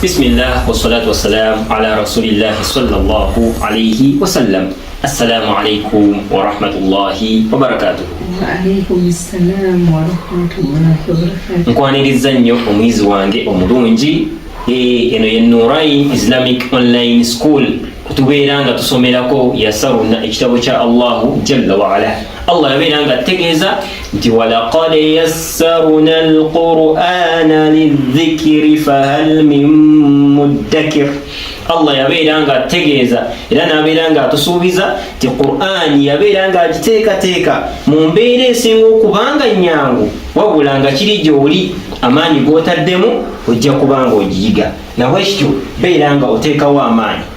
Bismillah wassalatu wassalamu ala rasulillahi sallallahu alayhi wasallam. Assalamu alaikum warahmatullahi wabarakatuh. Nkwaniriza nnyo omuyizi wange omulungi eh, eno ye Nurai Islamic Online School kutubeera nga tusomerako yasaruna ekitabo kya Allahu jalla waala Allah yabeera nga tegeeza nti walaqad yassarna alqur'ana lidhikiri fahal min muddakir allah yabeera nga ategeeza era nabeera nga atusuubiza ti qur'ani yabeera nga agiteekateeka mu mbeera esinga okubanga nyangu wabula nga kiri gyoli amaanyi gotaddemu ojja kubanga ogiyiga nabwekityo beera nga oteekawo amaanyi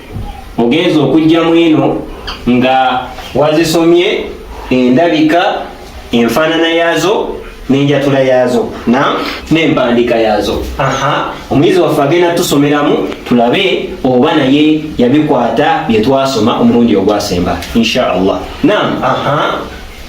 ogenze okujja mwino nga wazisomye endabika enfaanana yaazo n'enjatula yaazo n'empandiika yaazo omuyizi waffe agenda tusomeramu tulabe oba naye yabikwata bye twasoma omulundi ogwasemba insha allah nam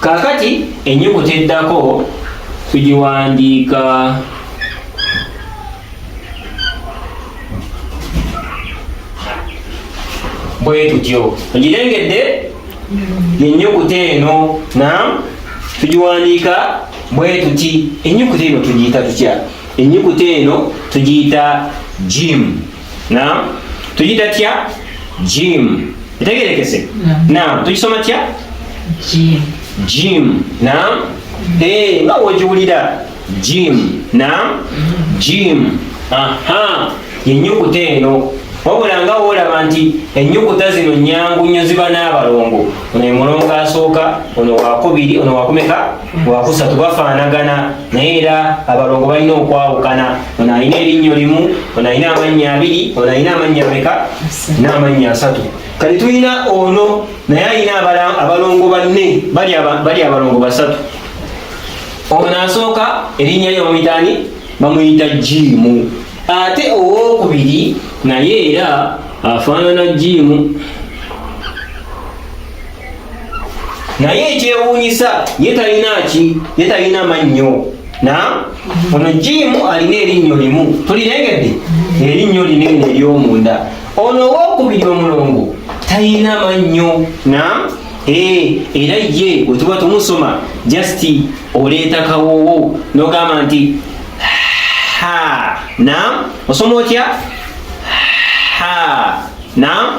Kaakati ennyukuta eddako tugiwandiika bwe tutyo ogirengedde ennyukuta eno na tugiwandiika bwe tuti ennyukuta eno tugiyita tutya ennyukuta eno tugiyita jimu na tuyita tya jim etegerekese na tuyisoma tya jim na eh, nga wogiwulira jim na jim aha yenyukuta eno wabula nga woolaba nti ennyukuta zino nyangu nnyo ziba n'abalongo ono emulongo asooka ono wakubiri ono wakumeka wakusatu bafaanagana naye era abalongo balina okwawukana ono alina erinnyo limu ono alina amannya abiri ono alina amannya meka n'amannya asatu kati tulina ono naye alina abalongo banne bali abalongo basatu ono asooka erinnya lye bamuyitaani bamuyita jiimu ate owokubiri naye era afaanana jiimu naye ekyewuunyisa ye talina ki ye talina mannyo na ono jiimu alina erinnyo limu tulirengedde erinnyo linene eryomunda ono owokubiri omulongo talina mannyo na Eh, era ye wetuba tumusoma just oleeta kawoowo nogamba nti na osoma otya na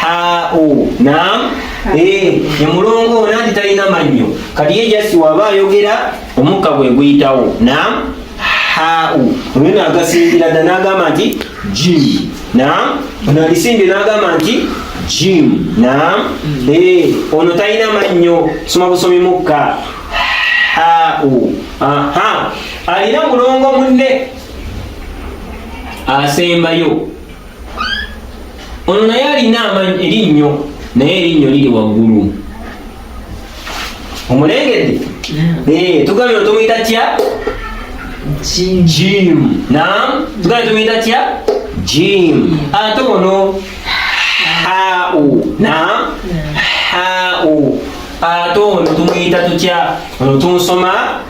hao naam eh nyamulongo nandi talina manyo kati ye just waba ayogera omukka gwe guyitawo naam hao oyo nagasingira dda n'agamba nti jim naam ono alisimbye n'agamba nti jim naam eh ono talina mannyo soma busomi mukka hao aha alina mulongo munne asembayo ono naye alina amanyi erinnyo naye erinnyo liri waggulu omulengedde eh, tugambye otomuyita tya jim nam tugambye tumuyita tya jim ate ono hau nam hau ate ono tumuyita tutya ono tunsoma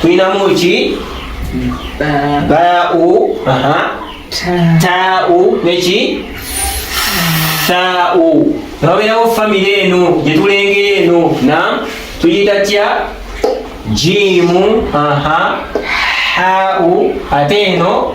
tulinamu ki bau tau neki thau nababeerawo famire eno gyetulengera eno na tuyita tya jiimu hau ate eno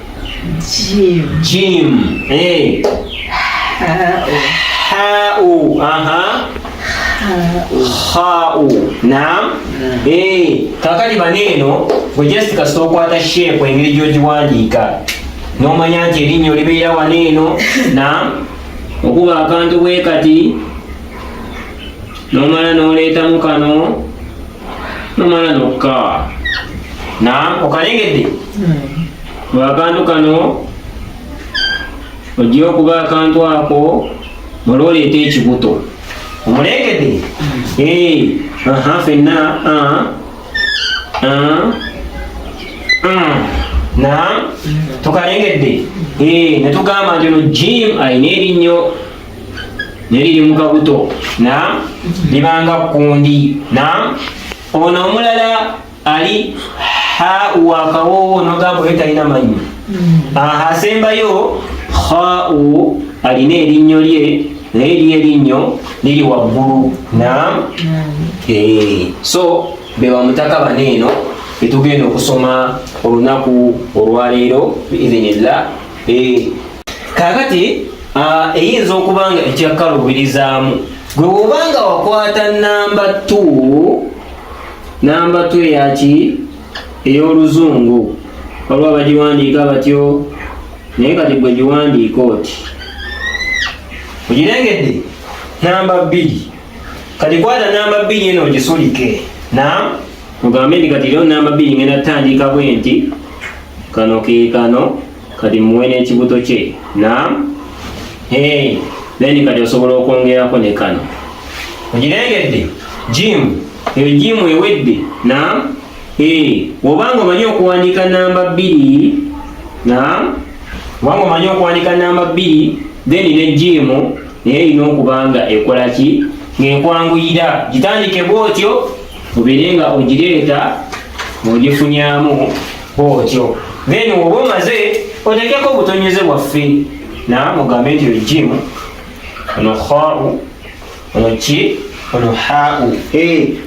Jim. Jim. Eh. Hau. Aha. Hau. Naam. Eh, kakati maneno we just kasita okwata shape engeri gy'ogiwandiika n'omanya nti erinnya olibeera wano eno na okuba akantu bwe kati n'omala n'oleetamu kano nomala nokka nam okalengedde hmm. akantu kano ojja okuba akantu ako olwoleeta ekibuto omulengedde hmm. fenna nam tukalengedde netugamba nti ono jim alina erinnyo neliri mu kabuto na libanga kundi na ono omulala ali ha wakawowo nogamba oyo talina manyi mm. aha asembayo hau alina erinnyo lye naye eri erinnyo liri waggulu na mm. eh, so bewamutaka bana eno betugenda okusoma olunaku olwaleero biidhinillah eh, kakati ah, eyinza okuba nga ekyakaluubirizaamu gwe wobanga wakwata namba t namba t eyaki ey'oluzungu waliwo bagiwandiika batyo naye kati gwe giwandiika oti ogirengedde namba bbiri kati kwata namba bbiri eno ogisulike na mugambe ndi kati leo namba bbiri ngenda tutandika bwenti kano ke kano kati muwe n'ekibuto kye naam hey, then kati osobola okwongerako ne kano ogirengedde jimu eyo jimu ewedde naam hey, wobanga omanyi okuwandiika namba bbiri naam wanga omanyi okuwandiika namba bbiri then ne jimu naye erina okuba nga ekola ki ng'ekwanguyira gitandike bwotyo obeere nga ogireeta ng'ogifunyamu bwotyo then oba omaze otekeko obutonyeze bwaffe na mugambe nti ojimu ono khau ono ki ono hau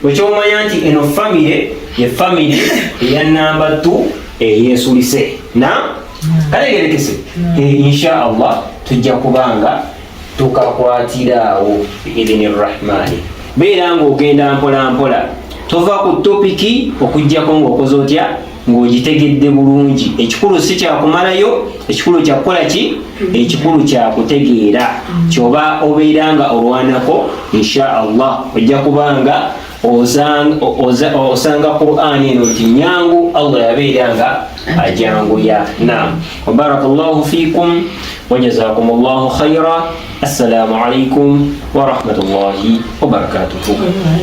wekyomanya nti eno famire ye famire eya namba t eyesulise na kalegerekese insha allah tujja kubanga tukakwatira awo biidhini rrahmaani beera ng'ogenda mpola mpola tova ku topiki okujjako ng'okoze otya ng'ogitegedde bulungi ekikulu si kyakumalayo ekikulu kyakukola ki ekikulu kyakutegeera kyoba obeera nga olwanako insha allah ojja kubanga osanga qurani eno nti nyangu allah yabeera nga ajanguya nam wabaraka llahu fikum wajazakum llahu khaira assalamu alaikum warahmatullahi wabarakatuhu